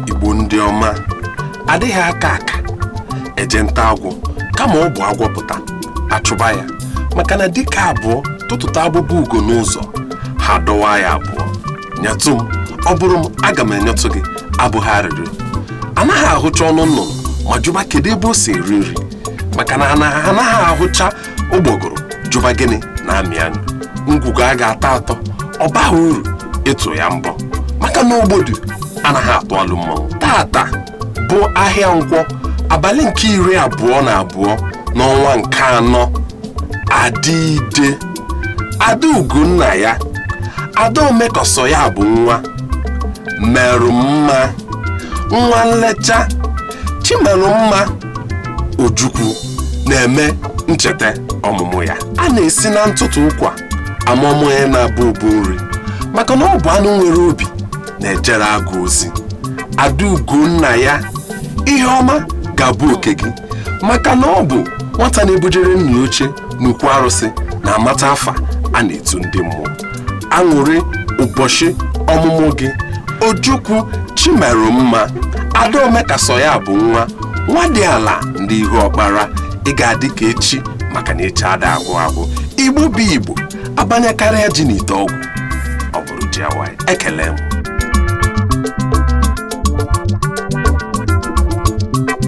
igbo ndị ọma adịghị aka aka eje nta agwọ kama ọ bụ agwọ pụta achụba ya maka na dike abụọ tụtụta abụba ugo n'ụzọ ha dọwaa ya abụọ nyetụ m ọ bụrụ m aga m enyetụ gị abụghị arịrịọ anaghị ahụcha ọnụ nnụnụ ma jụba kedu ebe o si eri nri maka na anaghị ahụcha ụgbọgụrụ jụba gịnị na-amị anyụ ngwugwu a ga-atọ atọ ọ baghị uru ịtụ ya mbọ maka na ogbodu anaghị atụ alụ mmanwụ tata bụ ahịa nkwọ abalị nke iri abụọ na abụọ n'ọnwa nke anọ ada ide adaugo nna ya ada ome ka ọ sọ ya bụ nwa merụ mma nwa nlecha chimerụ mma Ojukwu na-eme ncheta ọmụmụ ya a na-esi na ntụtụ ụkwa ama ọmụ ya na-abụ ụbụ nri maka na ọ bụ anụ nwere obi na-ejere agụ ozi adaugo nna ya ihe ọma ga-abụ oke gị maka na ọ bụ nwata na-ebujere nna oche n'ukwu arụsị na-amata afa a na-etu ndị mmụọ aṅụrị ụbọchị ọmụmụ gị ojukwu chimerụ mma ada ome ka ọ sọ ya bụ nwa nwadịala ndị ihuọkpara ị ga-adị ka echi maka na echi ada agwụ agwụ igbo bụ igbo abanyekarịa ji n'ite ọgwụ ọ bụrụ ji awaị ekele m